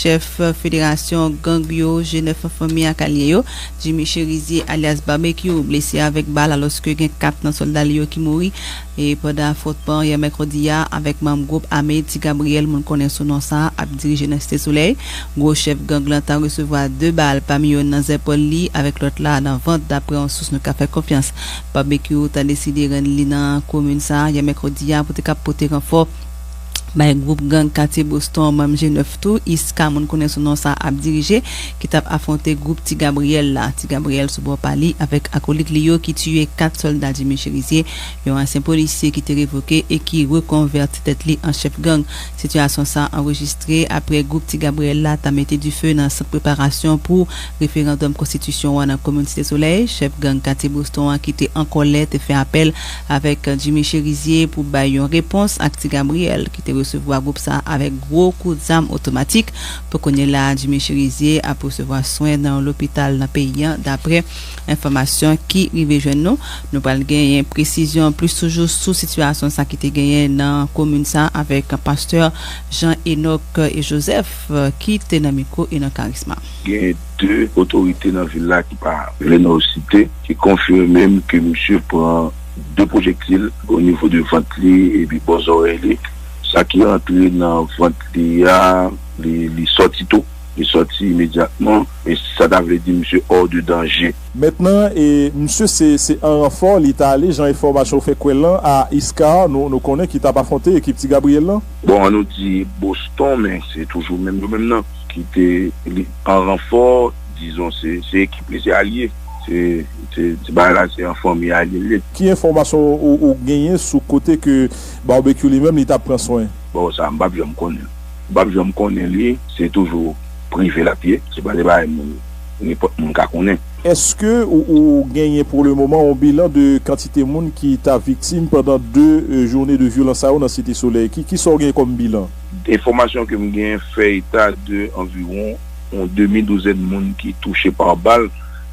Chèf federasyon gang yo G 9 Fanmi ak alye yo, Jimmy Cherizier alyas Barbecue blese avèk bal alòske gen 4 nan sòlda li yo ki mouri pandan afwontman yè mèkredi a avèk manm gwoup ame Ti Gabriel moun konnen sou non sa ap dirije nan Site Solèy. Gwo chèf gang lan ta resevwa 2 bal pami yo nan zèpòl li avèk lòt la nan vant daprè yon sous nou ka fè konfyans. Barbecue ta deside rann li nan komin sa yè mèkredi a pou te kap pote ranfò. bay gwoup gang katye Boston manm G9 tou, Isca moun konnen sou non sa ap dirije, ki t ap afwonte gwoup Ti Gabriyèl la. Ti Gabriyèl sou bò pa li avèk akolit li yo ki tiye 4 sòlda Jimmy Cherizier, yon ansyen polisye ki te revoke e ki rekonvèti tèt li an chèf gang. Sitiyasyon sa anrejistre aprè gwoup Ti Gabriyèl la ta mete dife nan sant preparasyon pou referandòm konstitisyon an nan komin Site Solèy. Chèf gang katye Boston an ki te an kòlè te fè apèl avèk Jimmy Chérizier pou bay yon repons ak Ti Gabriel ki te resevwa gwoup sa avèk gwo kout zam otomatik. Pou kounye la a Jimmy Chérizier ap resevwa swen nan yon lopital nan peyi an daprè enfòmasyon ki rive jwenn nou. Nou pral genyen presizyon plis toujou sou sitiyasyon sa ki te genyen nan komin sa avèk pastè Jean Enock Joseph ki te nan mikwo Enon Karisma. Gen 2 otorite nan vil la ki pa vle nou site ki konfime m ke misye pran 2 pwojektil o nivo de vant li epi bò zòrèy li, sa ki antre nan vant li a li sòti tou, li sòti imedyatman e sa ta vle di misye hors de danje. Mentnan e misye se an ranfò li ta ale jan enfòmasyon fè kwè lan a Iscar nou konnen ki t ap afwonte ekip Ti Gabriel lan. Bon an nou di Boston men se toujou menm yo menm nan ki te li. an ranfò dizon se se ekip li se alye se se ti bagay la se an fanmi alye l ye. Ki enfòmasyon ou genyen sou kote ke Barbecue li menm li tap pran swen? Bon sa m pap janm konnen l m pap janm konnen li se toujou prive lap ye se pa de bagay moun nenpòt moun ka konnen. Eske ou genyen pou le moman yon bilan de kantite moun ki ta viktim pandan 2 joune de vyolans sa yo nan Site Solèy? Ki sa ou genyen kòm bilan? Enfòmasyon ke m gen fè eta de anviwon yon demi douzèn moun ki touche pa bal,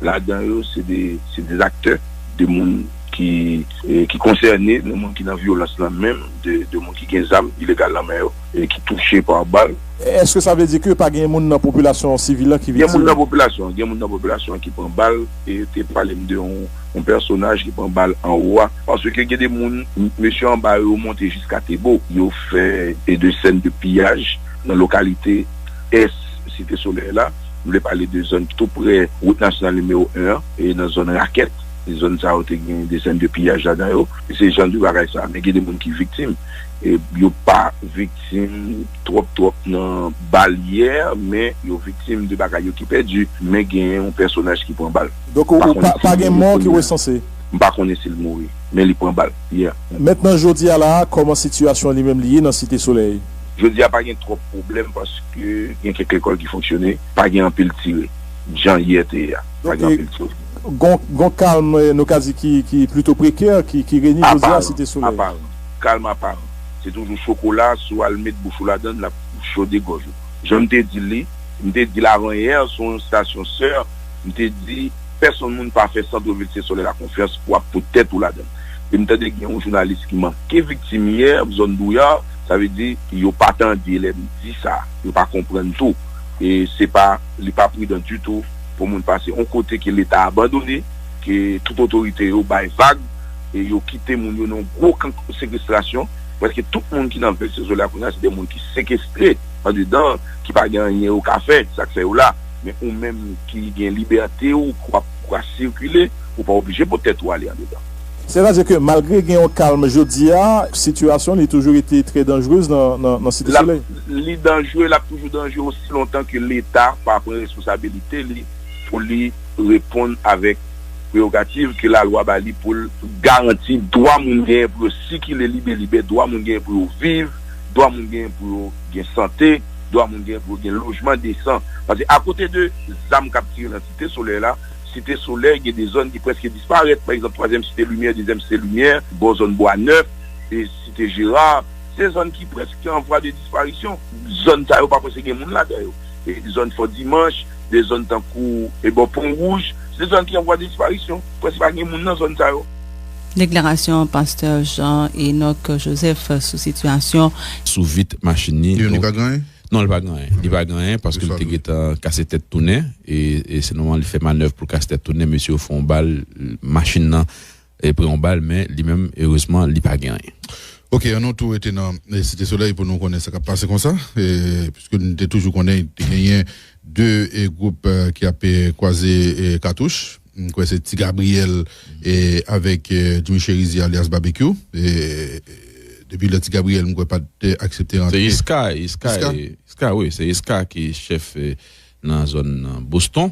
ladan yo se de se de aktè, de moun ki ki konsène, de moun ki nan vyolans lan menm, de moun ki gen zam ilegal nan men yo e ki touche pa bal. Eske sa vle di ke pa gen moun nan popilasyon sivil lan ki viktim? Gen moun nan popilasyon an, gen moun nan popilasyon an ki pran bal e yo te pale m de yon pèsonaj ki pran bal anwo a. Paske gen de moun mesye anba yo yo monte jiska Tebo. Yo fè de sèn de piyaj nan lokalite ès Site Solèy la. M vle pale de zòn tou prè wout nasyonal nimewo 1 an e nan zòn Rakèt. Zòn sa yo te gen de sèn de piyaj ladan yo. Se jan de bagay sa. Men gen de moun ki viktim. Yo pa viktim twòp twòp nan balyè men yo viktim de bagay yo ki pèdi. Men gen yon pèsonaj ki pran bal. Donk pa gen mò ki resanse? M pa konnen si l mouri, men li pran bal, yè. Mèt nan jodi a la a, kòman sitiyasyon li menm li ye nan Site Solèy? Jodi a pa gen twòp pwoblèm paske gen kèk lekòl ki fonksyone, pa gen anpil tire. Jan yè te ye a, pa gen anpil tire. Donk, gon kalm nou ka di ki plito prekè ki renye jodi a Site Solèy. Aparan, aparan. Kalm aparan. Se toujou chokola, si w al met bouch ou ladan l, l ap chode gòj ou. Jan m te di li, m te di l avan yè sou yon stasyon sè, m te di. Pèsonn moun pa fè centre ville se solè la konfyans pou ap pot tèt ou ladann e m tande gen yon jounalis ki manke viktim yè zòn douyar sa vle di yo pa tande lè m di sa yo pa konprann tou e se pa li pa pridan ditou pou moun pase yon kote ke leta abandone ke tout otorite yo bay vag e yo kite moun yo nan yon gwo kan sekestrasyon preske tout moun ki nan vil se solè a kounye a se de moun ki sekestre andedan ki pa gen anyen yo ka fè sa k fè yo la. Men ou menm ki gen libète ou pou ap kwa sikile, ou pa oblije pou tèt ou ale andedan. Sètadi ke malgre gen yon kalm jodi a, sitiyasyon li toujou rete trè danjrez nan Site Solèy? Li danjre, l ap toujou danjre osi lontan ke Leta pa pran responsabilite li pou li reponn avèk prerogativ ke lalwa ba li pou l garanti dwa moun genyen pou yo sikile libelibè, dwa moun genyen pou yo viv, dwa moun genyen pou yo gen sante. dwa moun gen pou yo gen lojman desan. Pase akote de zam k ap tire nan Site Solèy la, Site Solèy gen de zòn ki prèske disparèt. Pa egzanp, Twazyèm Site Limyè, Dezyèm Site Limyè, bò zòn Bwa Nèf, Site Jera, se zòn ki prèske an vwa de disparisyon. Zòn sa yo pa prèske gen moun ladan yo. Zòn Fò Dimanch, de zòn tankou bò Pon Wouj, se zòn ki an vwa de disparisyon. Prèske pa gen moun nan zòn sa yo. Deklarasyon pastè Jean Enock Joseph sou sitiyasyon. Sou vit machin ni. Leone pa gen anyen? Non li pa gen anyen. Li pa gen anyen paske li te gentan kase tèt tounen e se nòmal li fè manèv pou l kase tèt tounen mesye yo fè yon bal machin nan pran yon bal men li menm erezman li pa gen anyen. Ok an nou tou rete nan site solèy pou nou konnen sa kap pase konsa piske nou te toujou konnen te genyen 2 gwoup ki ap kwaze katouch. M kwè se ti Gabriel avèk Djoumy Cherizier alyas Babekyou. Depi lè ti Gabriel m kwè pat aksepte rantre. Se Iska, Iska, Iska wi, se Iska ki chèf nan zòn Boston.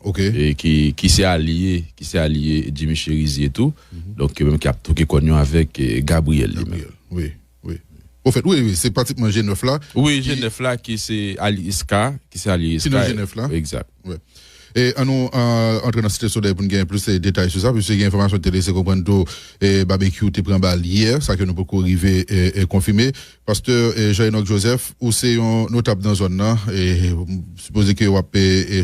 Ok. Ki se alye, ki se alye Djoumy Cherizier tou. Donk yo menm ki ap twoke kòn yo avèk Gabriel li menm. Wi. Wi. Pwofèt, wi, wi, se pratikman je nèf la. Wi, je nèf la ki se alye Iska, ki se alye Iska. Ki nan je nèf la. Egzat. Wi. E an nou antre nan Site Solèy pou n gen plis detay sou sa, piske gen enfòmasyon ki te lese konprann tou Babekyou te pran bal yè, sa ke nou poko rive konfime. Pastè Jean Enock Joseph, ou se yon notab nan zòn nan, m sipoze ke w ap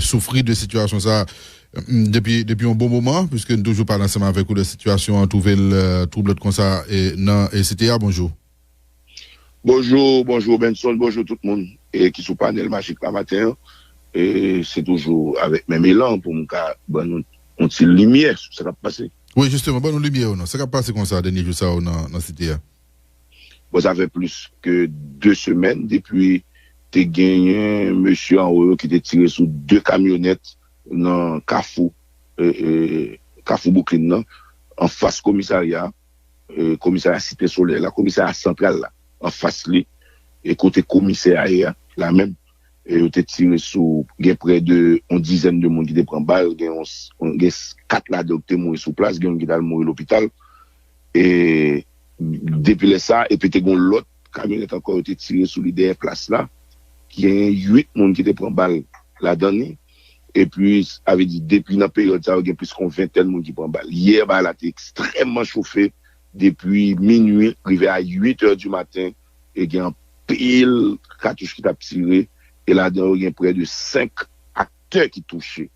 soufri de sitiyasyon sa a. Depi yon bon moman, pwiske n toujou pale ansanm avèk ou lè sitiyasyon an twouve l twoublòt konsa nan site a, bonjou. Bonjou, bonjou Benson, bonjou tout moun ki sou panèl majik la maten an. Se toujou avèk menm elan pou m ka ban nou yon ti limyè sou sa k ap pase. Wi, jisteman, ban nou limyè yo nan sa k ap pase konsa dènye jou sa yo nan site a. Bon, sa fè plis ke 2 semèn depi te genyen mesye anwo yo ki te tire sou 2 kamyonèt nan kafou kafou bouklin nan anfas komisarya komisarya site solèy la komisarya santral la anfas li e kote komisè a ye a la menm yo te tire sou gen prè de yon dizèn de moun ki te pran bal gen yon gen 4 ladan yo ki te mouri sou plas gen yon ki t al mouri lopital e depi lè sa epi te gen yon lòt. kamyonèt ankò yo te tire sou li dèyè plas la, genyen 8 moun ki te pran bal ladan li, epi sa vle di depi nan peryòd sa yo gen plis kon ventèn moun ki pran bal. Yè ba la te ekstrèmman chofe depi minui rive a 8 è di maten e gen anpil katouch ki t ap tire e ladan yo gen prè de 5 aktè ki touche.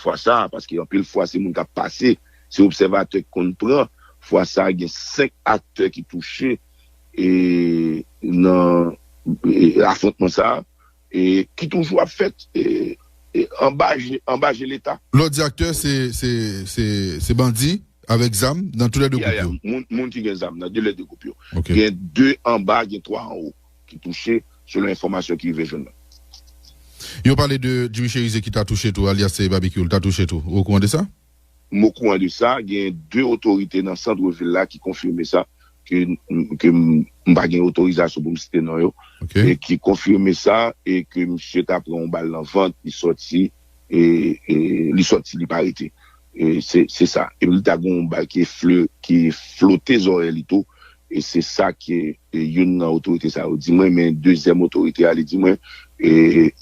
fwa sa a, paske anpil fwa se moun k ap pase, se obsèvatè ki konn pran, fwa sa a gen 5 aktè ki touche nan afwontman sa a ki toujou ap fèt anba je leta. Lòt di aktè se bandi avèk zam nan tou lè 2 gwoup yo. Moun ki gen zam nan tou lè 2 gwoup yo. Gen 2 anba, gen 3 anwo. ki touche, selon enfòmasyon ki rive jwenn nou. Yo pale de Jimmy Cherizier ki ta touche tou, alyas Babekyou, l ta touche tou. Ou okouran de sa? M okouran de sa. Genyen 2 otorite nan santre vil la ki konfime sa, ke ke m pa gen otorizasyon pou m site non yo, e ki konfime sa, e ke misye ta pran yon bal nan vant, li sòti. Li sòti li pa rete se sa epi li ta gen yon bagay ki ki flote zòrèy li tou e se sa ke youn nan otorite sa yo di mwen men dezyèm otorite a li di mwen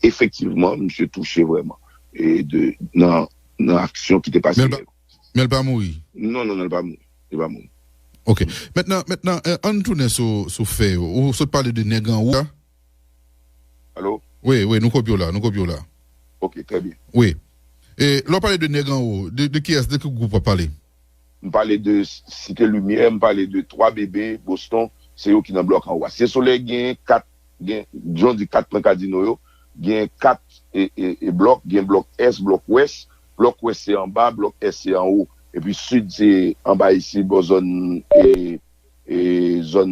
efektivman misye touche vrèman de nan nan aksyon ki te pase yè. Men l pa mouri? Non non non li pa mouri li pa mouri. Ok mètnan mètnan ann tounen sou sou fè yo ou sot pale de nèg anwo a Alo? Wi, wi, nou kopye w la, nou kopye w la. Ok, trè byen. Wi. E, lè w pale de nèg anwo, de, de kiyès, de ki gwoup w ap pale? M pale de Site Limyè, m pale de 3 Bebe, Boston, se yo ki nan blòk anwo a. Site Solèy genyen 4, gen, jan w di 4 pwen kadino yo, genyen 4 e, e, e blòk, gen blòk Est, blòk Ouest, blòk Ouest se anba, blòk Est se anwo. Epi Sid se anba isit bò zòn e. zòn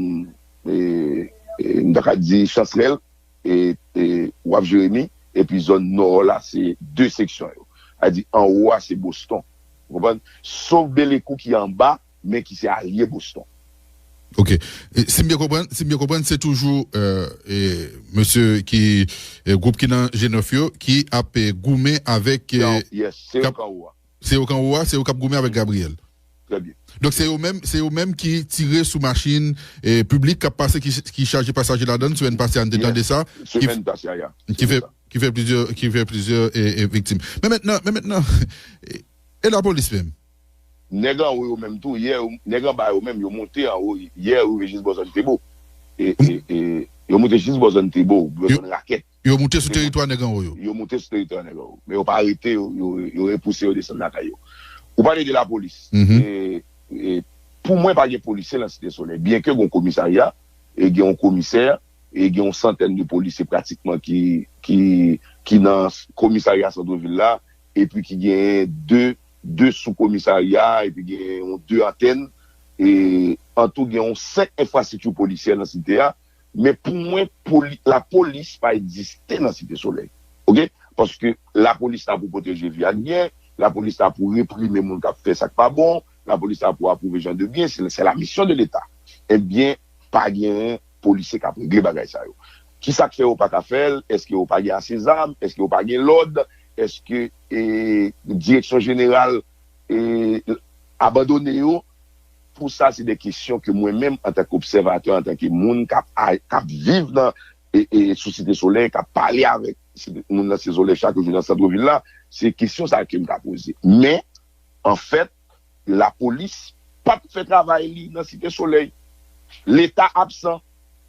m ta ka di chanserèl e waf jeremi epi zòn nò la se 2 seksyon yo a di anwo a se boston ou konprann sof belekou ki anba men ki se alye boston. Ok si m byen konprann si m byen konprann se toujou mesye ki gwoup ki nan G9 yo ki ap goumen avèk. Yes se yo k anwo a. Se yo kanwo a, se yo kap goumen avèk Gabriel. Trè byen. Donk se yo menm, se yo menm ki tire sou machin piblik kap pase ki chaje pasaje ladann semèn pase a n te tande sa. Yes, semèn pase a ya. Ki fè, ki fè plizyè, ki fè plizyè viktim. Men mentnan, men mentnan e lapolis menm? Nèg anwo yo menm tou yè, nèg anba yo menm yo moute anwo yè rive jis bò zòn Tebo. E, e, e yo moute jis bò zòn Tebo, bò zòn Rakèt. Yo moute sou teritwa nèg anwo yo. Yo moute sou teritwa nèg anwo yo. Men yo pa arete yo, yo repouse yo desann lakay yo. Ou pale de lapolis. E, pou mwen pa gen polisye lan Site Solèy. Byenke gen yon komisarya, e gen yon komisè, e gen yon santèn de polisye pratikman ki, ki, ki nan komisarya santrevil la, epi ki genyen de, de sou komisarya, epi genyen yon de antèn. E, antou gen yon senk enfrastrikti polisyè lan site a. Men pou mwen poli la polis pa egziste nan site solèy ok paske la polis la pou pwoteje vi ak byen la polis la pou reprime moun kap fè sak pa bon la polis la pou apwouve jan de byen se la misyon de leta ebyen pa genyen polisye kap regle bagay sa yo kisak fè yo pa ka fèl eske yo pa gen ase zam eske yo pa gen lòd eske ee direksyon jeneral ee abandone yo. Tou sa se de kesyon ke mwen menm antanke obsèvatè, antanke moun kap kap viv nan sou Site Solèy, kap pale avèk moun nan Site Solèy chak jou nan Centre Ville la, se kesyon sa kem ta poze. Men, an fèt, lapolis pap fè travay li nan Site Solèy. Leta absan.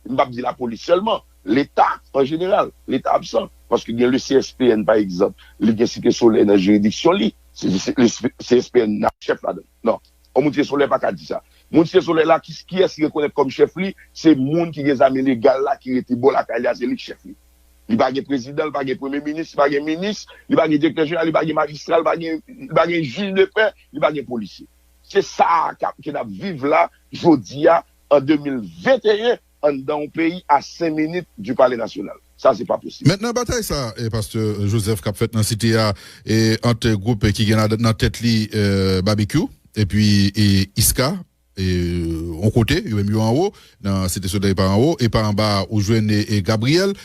M pap di lapolis sèlman. Leta an jeneral. Leta absan. Paske gen le CSPN pa egzanp, li gen Site Solèy nan jiridiksyon li. Se CSPN nan chèf ladan. Non. On moun Site Solèy pa ka di sa. Moun Site Solèy la, kiyès li rekonèt kòm chèf li, se moun ki gen zam ilegal la ki rete bò lakay li a, se li ki chèf li. Li pa gen prezidan, li pa gen premye minis, li pa gen minis, li pa gen direktè jeneral, li pa gen majistra, li pa gen, li pa gen jij de pè, li pa gen polisye. Se sa a ke n ap viv la jodi a an 2021 anndan yon peyi a 5 minit du pale nasyonal. Sa se pa posib. Mèt nan batay sa a pastè Joseph kap fèt nan site a ant gwoup ki gen nan tèt li Babekyou epi Iska yon kote yo menm yo anwo nan site solèy pa anwo e pa anba ou jwenn Gabriel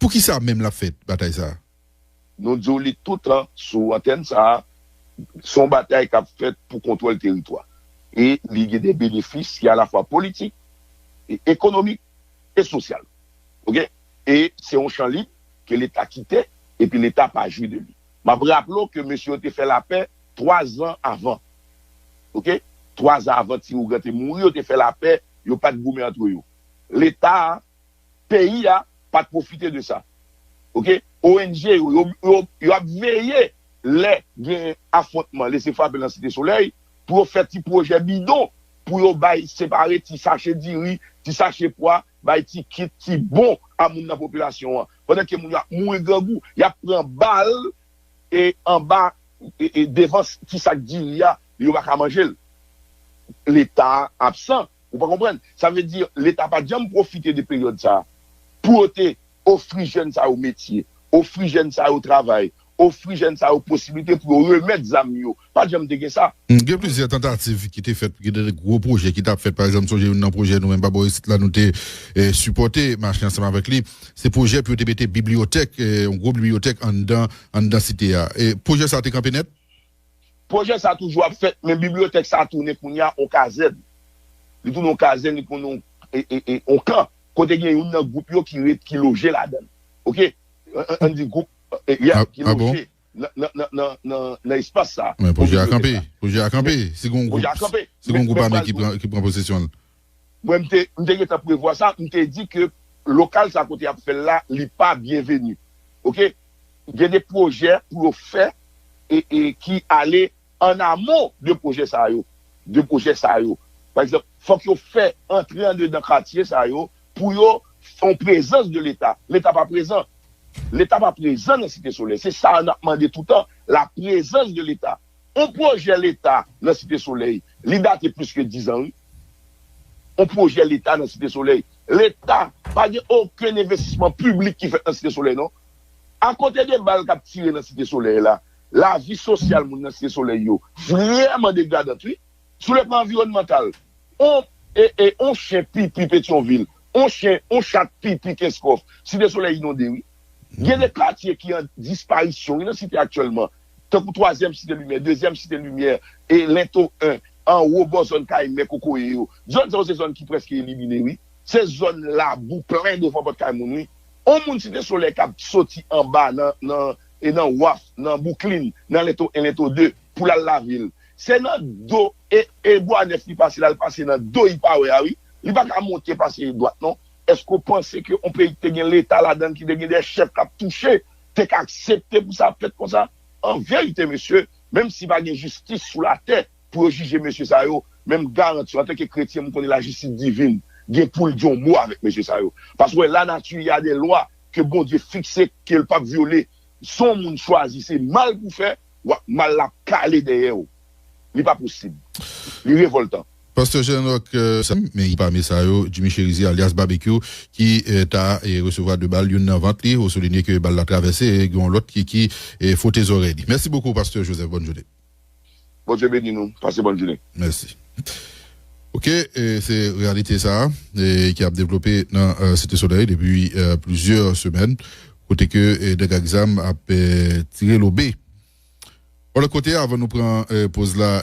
poukisa menm lap fèt batay sa a? Nou di w li toutan sou antèn sa a, se yon batay k ap fèt pou kontwòl teritwa e li gen de benefis ki alafwa politik, ekonomik e sosyal. Ok. E se yon chan lib ke Leta kite epi Leta pa jwi de li. M ap raple w ke mesye yo te fè lapè twa zan avan. Ok. Twa zan avan ti Ougan te mouri yo te fè lapè, yo pa t goumen antre yo. Leta a. peyi a pat profite de sa ok ong yo yo ap veye lè gen afwontman lese frape lan site solèy pou yo fè ti projè bidon pou yo bay separe ti sache diri ti sache pwa bay ti kit ti bon a moun nan popilasyon an pandan ke moun yo ap mouri grangou yap pran bal e anba e devan ti sak diri a yo paka manjel leta absan. Ou pa konprann? Sa vle di Leta pa t janm pwofite de peryòd sa a pou yo te ofri jèn sa yo metye, ofri jèn sa yo travay, ofri jèn sa yo posiblite pou yo remèt zam yo. Pa t janm te gen sa. Gen plizyè tantativ ki te fèt pou gen de gwo pwojè ki t ap fèt. Pa egzanp, m sonje youn nan pwojè nou menm Babò isit la nou te sipòte, mache ansanm avèk li, se pwojè pou yo te mete bibliyotèk, yon gwo bibliyotèk anndan anndan Site a. Pwojè sa a te kanpe nèt. Pwojè sa toujou ap fèt men bibliyotèk sa tounen kounye a yon kazèn. Li tounen yon kazèn, li tounen yon kan kote gen youn nan gwoup yo ki ret, ki loje ladan l. Ok. Ann di gwoup, yeah, ki loje nan espas sa. Men pwojè a kanpe. Pwojè a kanpe si gen yon gwoup ame ki pran posesyon l. Mwen m te m te gentan prevwa sa, m te di ke lokal sa kote yap fèl la li pa byenveni ok gen de pwojè pou yo fè e e ki ale an amon de pwojè sa yo de pwojè sa yo pa egzanp fòk yo fè antre andedan katye sa yo pou yo fè yon prezans de leta, leta pa prezan leta pa prezan nan site solèy se sa nap mande toutan la prezans de leta. On pwojè leta nan site solèy li date plis ke 10 ans wi on pwojè leta nan site solèy leta pa gen okenn envestisman piblik ki fèt nan site solèy non akote de bal kap tire nan site solèy la lavi sosyal moun nan site solèy yo vrèman degradant wi. Soulèvman anviwònmantal, On e e on chen pipi Petyonvil, on chen, on chat pipi Kenskòf, Site Solèy inonde wi. Gen de katye ki an disparisyon wi nan Site aktyèlman, tankou twazyèm Site Limyè, dezyèm Site Limyè, e Lento 1, anwo bò zòn kay mè kokoye yo. Zòn sa yo se zòn ki prèske elimine wi. Se zòn labou plen devan pòt kay moun wi. On moun Site Solèy k ap soti anba nan e nan waf, nan Bouklin, nan Lento 1, Lento 2. pou lal lavel se nan do e e bwa nèf li pase lal pase nan do li pa wè a wi li paka monte pase dwat non eske ou panse ke yon peyi ki te gen leta ladanl ki te gen de chèf kap touche te ka aksepte pou sa ap fèt konsa anverite mesye menm si pa gen jistis sou latè pou yo jije mesye sa yo men m garantiw antanke kretyen m konnen lajistis divin gen poul di yon mo avèk mesye sa yo paske wè lanati a de lwa ke Bondye fikse kel pap vyole son moun chwazi se mal pou fè. wap mal lap kale dèyèw li pa posib li revoltan. Pasteur Jeune Rock sa m men pami sa yo Jimmy Cherizier alyas Babekyou ki ta resevwa 2 bal youn nan vant li ou soulinye ke bal la travèse e gen yon lòt ki ki fwote zòrèy li. Mèsi bokou Pasteur Joseph bòn jounen. Bondye beni nou pase bòn jounen. Mèsi ok se reyalite sa ki ap devlope nan site solèy depi plizyè semèn. Kote ke nèg ak zam ap tire lobe. Bon lòt kote avan nou pran poz la.